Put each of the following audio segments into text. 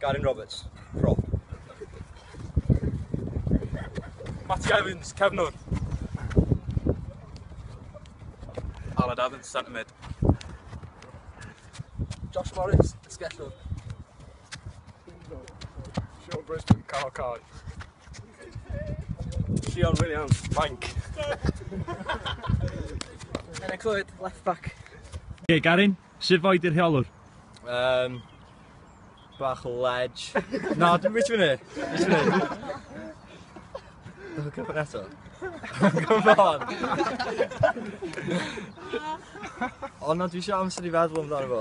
Garyn Roberts, prop. Matty Evans, cefnwr. Aled Evans, centre mid. Josh Morris, sgellwr. Sean Brisbane, Carl Carl. Sean Williams, Mank. Enna Clwyd, left back. Ie, Garin, sut foed i'r rheolwr? Um, Bach o lej. Na, dwi'n gweithio fyny. Gweithio fyny. Dwi'n cyfan eto. Come on. O na, dwi eisiau amser i feddwl amdano fo.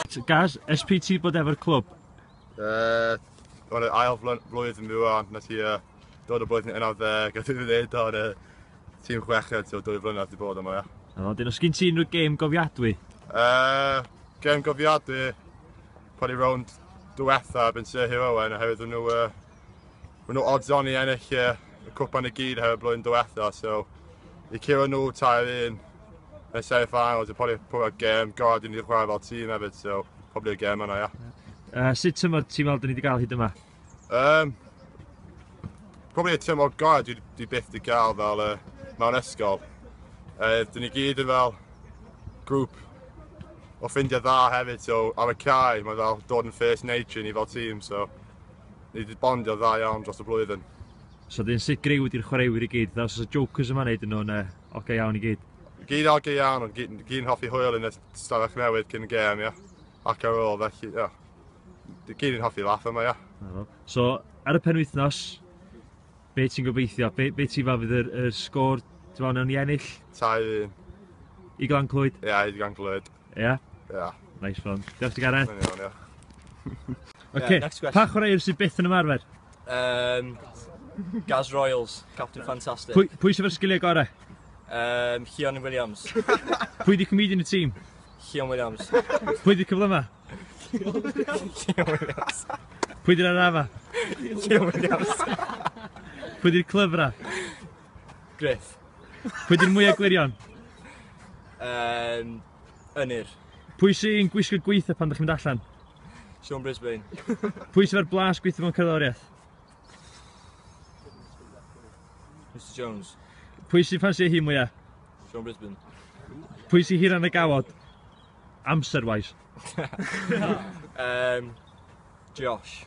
So, Gaz, SPT bod efo'r clwb? Uh, Wel, ail flwyddyn fi wan, na ti uh, Dod o boeth yn un ar ddeg, a dwi'n dweud o'n y tîm chweched, so dwy flynedd wedi bod yma, ia. A wedyn, os gyn ti unrhyw gêm gofiadwy? Uh, gêm gofiadwy, pan i rownd diwetha, byn Sir Hugh Owen, oherwydd nhw, uh, nhw odds on i ennill uh, y cwpan y gyd oherwydd blwyddyn diwetha, so i curo nhw tair un yn y seri finals, y pobl pwy'r gêm, gorau i ni chwarae fel tîm hefyd, so pobl i'r gêm yna, ia. Yeah. Uh, sut tymor ti'n meddwl dyn ni wedi cael hyd yma? Um, probably y tymor gorau dwi, dwi byth wedi cael fel uh, mewn ysgol. Uh, dyn ni gyd yn fel grŵp o ffrindiau dda hefyd, so ar y cae mae fel dod yn first nature ni fel tîm, so ni wedi bondio dda iawn dros y blwyddyn. So dyn sut greu wedi'r chwaraewyr i gyd, dda os y jokers yma wneud yn nhw'n uh, oge okay iawn i gyd? Gyd oge okay iawn, ond gyd, gyd yn hoffi hwyl yn y stafell newydd cyn y gêm, ia. Ac ar ôl, felly, ia. Gyd i'n hoffi laff yma, ia. So, ar y penwythnos, be ti'n gobeithio? Be, be ti'n fel fydd yr, yr sgôr, ti'n fel, nawn ni ennill? Tai un. I Glan Clwyd? Ia, yeah, i Glan Clwyd. Ia? Yeah? Ia. Yeah. Nice one. Diolch ti Gareth. Mae'n iawn, ia. Oce, yeah, pa chwaraewr sydd byth yn ymarfer? Um, Gaz Royals, Captain Fantastic. Pwy, pwy sydd o'r sgiliau gorau? Um, Chion Williams. pwy di comedian y tîm? Chion Williams. pwy di cyfle yma? Pwy di'r arafa? Leo Williams. Pwy di'r clyfra? Griff. Pwy di'r mwyaf glirion? Um, Ynir. Pwy sy'n gwisgo gweitha pan ydych chi'n mynd allan? Sean Brisbane. Pwy sy'n fe'r blas gweitha mewn cerddoriaeth? Mr Jones. Pwy sy'n ffansio hi mwyaf? Sean Brisbane. Pwy sy'n hiran y gawod? Amser wise. Yym Josh.